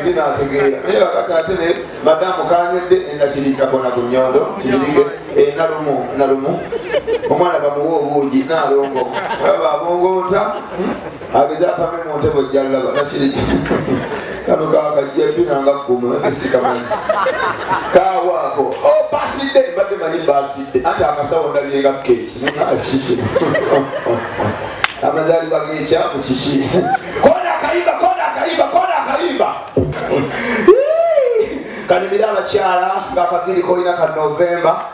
binategeera naye kakati ate ne madamu kanyedde enakirikakona ku nyondo kibirige enalumu nalumu omwana bamuwa obuugi nalongo aba abongoota hmm? ageze apame mu ntebe ojja laba nakiri kano kakajja empina nga gguma esikamanyi kawaako oh, basidde mbadde manyi basidde anti akasawo ndabye nga keeki nakiki amazaalibwa gekyamu kiki kona akayiba kona akayiba kona akayiba kanyumire abakyala nga akaviiri kolina ka novemba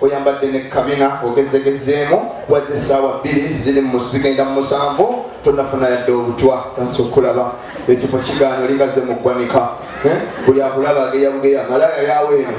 oyambadde ne kabina ogezegezzeemu waze essaawa bbiri ziri mu zigenda mu musanvu tonafuna yadde obutwa sansa okulaba ekifo kigaana olingaze mu ggwanika eh? buli akulaba ageyabugeya malaya yawe eno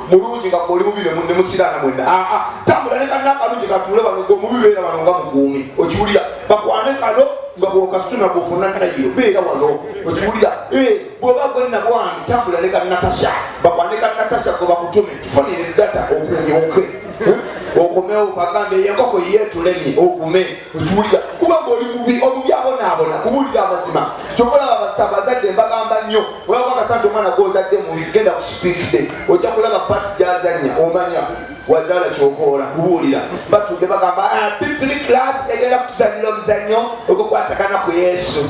mulungi nga oli mubi ne musiraana mwena aa ah, ah, tambula ne kanna akalungi katuule wano ge omubi beera wano nga mukuumi okiwulira bakwane kano nga bwokasuna bwofuna nayo beera wano okiwulira eh, bwoba gwe nabwange tambula ne kanatasha bakwane kanatasha gwe bakutume tufunire data okunyuke eh, okomewo bagambe yenkoko yetulemye okume okiwulira kuba ngaoli mubi omubi abonaabona kubuulira amazima kyokola babasa abazadde mbagamba nnyo olaba akasante omwana gwozadde mubi genda ku sipiikide ojja kulaba pati gyazanya omanya wazaala kyokoola kubuulira batudde bagamba ah, bifuli class egenda kutuzanyira omuzannyo ogwokwatagana ku yesu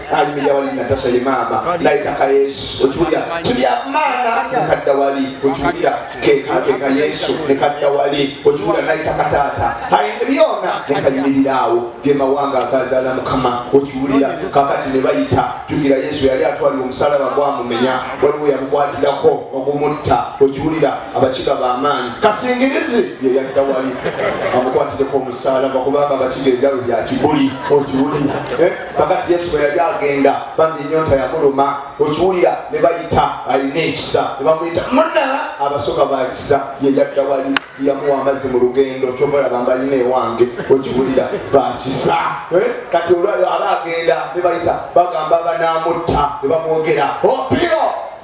anyumira wali natasha ye maama naitaka yesu okiwulira tulya maana nekadda wali okiwulira kekakeka yesu nekadda wali okiwulira naitaka taata aye byona nekayimirira awo gemawanga agazala mukama okiwulira kakati nebayita jukira yesu yali atwalira omusalaba gwamumenya waliwo yamukwatirako okumutta okiwulira abakiga bamaanyi kasingirizi yeyadda wali amukwatireko omusalaba kubanga abakiga ebyawe byakibuli okiwulira eh? bagati yesu bwe yali agenda bambi enyonta yamuluma okiwulira ne bayita alina ekisa ne bamuyita muna abasoka bakisa ye yadda wali yamuwa amazzi mu lugendo kyobalaba mbalina ewange okiwulira bakisa eh? kati olwaba agenda ne bayita bagamba banamutta ne bamwogera opio oh,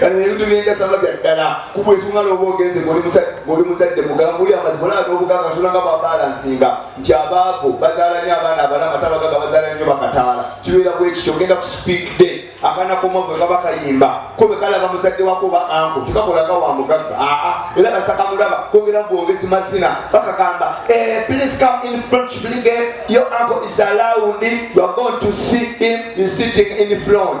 kati ebintu byenjasama bya ddala kubwa ensonga nooba ogenze ngoli muzadde mugamba oli amazima olaba n'obuganga katonda nga babalansinga nti abaavu bazaala nyo abaana abalama tabagaga bazaala nyo bakataala kibeera bwekityo ogenda ku speak day akaana koma gwe kaba kayimba ko bwe kalaba muzadde wako oba anko tekakolaga wa mugagga aa era basakamulaba kogera bwogezi mazina bakagamba eh, please come in front blinge your uncle is allowed you are going to see him is sitting in front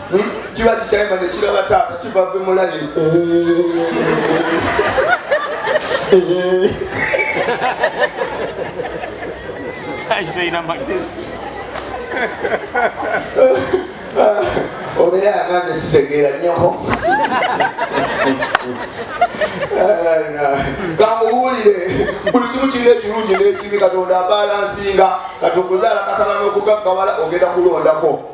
hmm? kiba kikyayima nekiraba taata kiva ve mulayi obeera nange sitegeera nyoko kamuwulire buli kimu kirina ekirungi n'ekibi katonda abalansinga kati okuzaala katala n'okugaggabala ogenda kulondako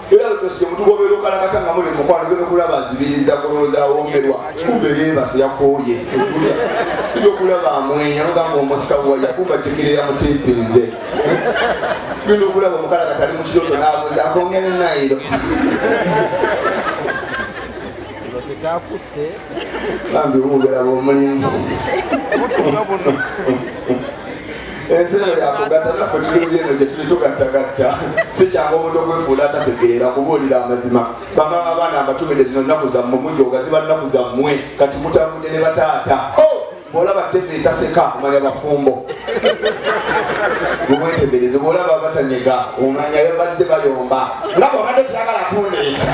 era wetosike mutugobera okalakata nga muli mukwano gwe nokulaba azibiriza kulowooza awoomerwa kumbe yeebase yakooye okulya tuja okulaba amwenya nogamba omusawo waya kumba jjukirira mutimpinze genda okulaba omukalakata ali mu kiroto naabuuza akongere nayiro tekyakutte bambi obugala bwomulimu ensi eno yakugatta naffe tuli mu byeno gye tuli tugattagatta si kyangu omuntu okwefuula atategeera kubuulira amazima bamama abaana abatumide zino nnaku zammwe mujooga ziba nnaku zammwe kati mutambudde ne bataata oh! bwolaba tebe etaseka omanya bafumbo bumwetegereze bwolaba batanyega omanya bazze bayomba nga bwabadde tuyagala kundeeta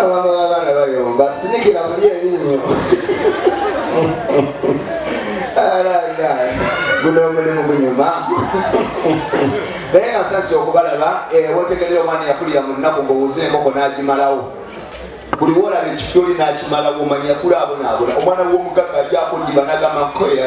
abaana babaana bayomba sinikira muli ebinnyo alala guno omulimu gunyuma naye nga sasi okubalaba eh, wotegerera omwana yakulira mu nnaku ngowuza enkoko n'agimalawo buli wolaba ekifo oli n'akimalawo omanya kulaabonabona omwana w'omugagga alyako ndiba nagamba nkoya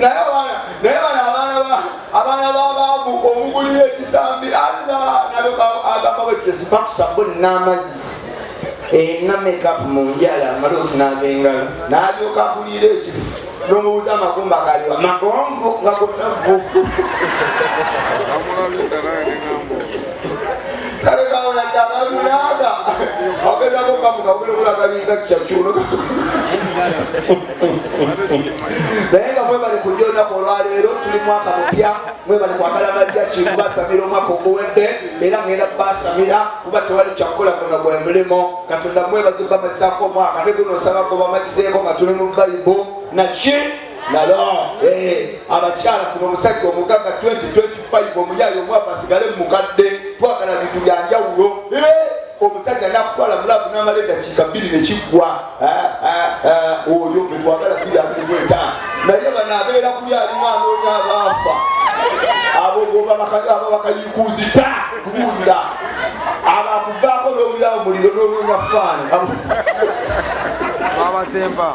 naye bano abaana babaavu omugulira ekisambi anna agamba bwetesipatusabu n'amazzi ena mekapu mu njala amale okunaaba engalo n'alyoka akulira ekifu n'omubuuza amagumba galiwa magonvu nga gonavvu kale kawo yadde abantu naaga ogezako kamukabula obulagalinga kyakyuno naye nga mwebale kujja olunaku olwaleero tuli mwaka mupya mwebale kwagala malya kikubasamira omwaka oguwedde era ngenda kubasamira kuba tewali kyakukola gona gwe mulimu katonda mwebaze bamazako omwaka ne guno osaba gobamaziseeko nga tuli mu vaibu naki lala eh, abakyala funa omusajja omugaga 2025 omuyayi omwavu asigale mumukadde twagala bintu byanjawulo eh, omusajja nakutwala mulavu namala edakiika bbiri nekiggwa eh, oyo getwagala bbiri abiri gwetaano naye bano abeera kuli alimu anoonya abaafa abo babakayikuuzita kubuulira abakuvaako nowulira omuliro nonoonya faani abasemba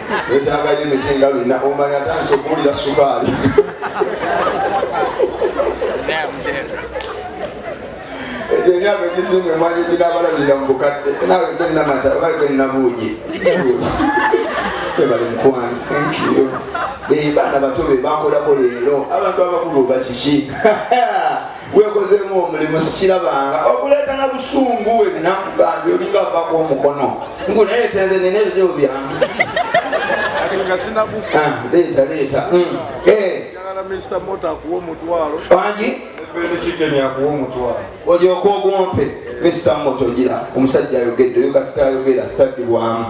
Wetaaga ye miti nga lina omanya tanso kuwulira sukaali. Egyo emyaka egisinga emwanyi ginabalabirira mu bukadde naawe gwe namata oba gwe nabuugi. Ebale mukwano thank you. Be baana bato be bankolako leero abantu abakulu bakiki. gwekozeemu omulimu sikirabanga okuleeta na busungu we binakugange olinga avako omukono nguleeta nze nina ebizibu byange ah, leeta leeta hmm. eh. wangi olyoka ogumpe mr moto gira omusajja ayogedde oyo kasita ayogera tadibwamu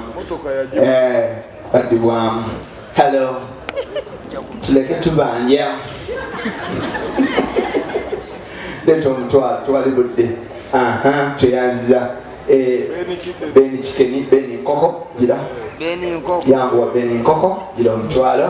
baddibwamu hello tuleke tubanja leeta omutwalo twali budde tweyazza eh, beni kikeni beni nkoko gira yanguwa beni nkoko gira omutwalo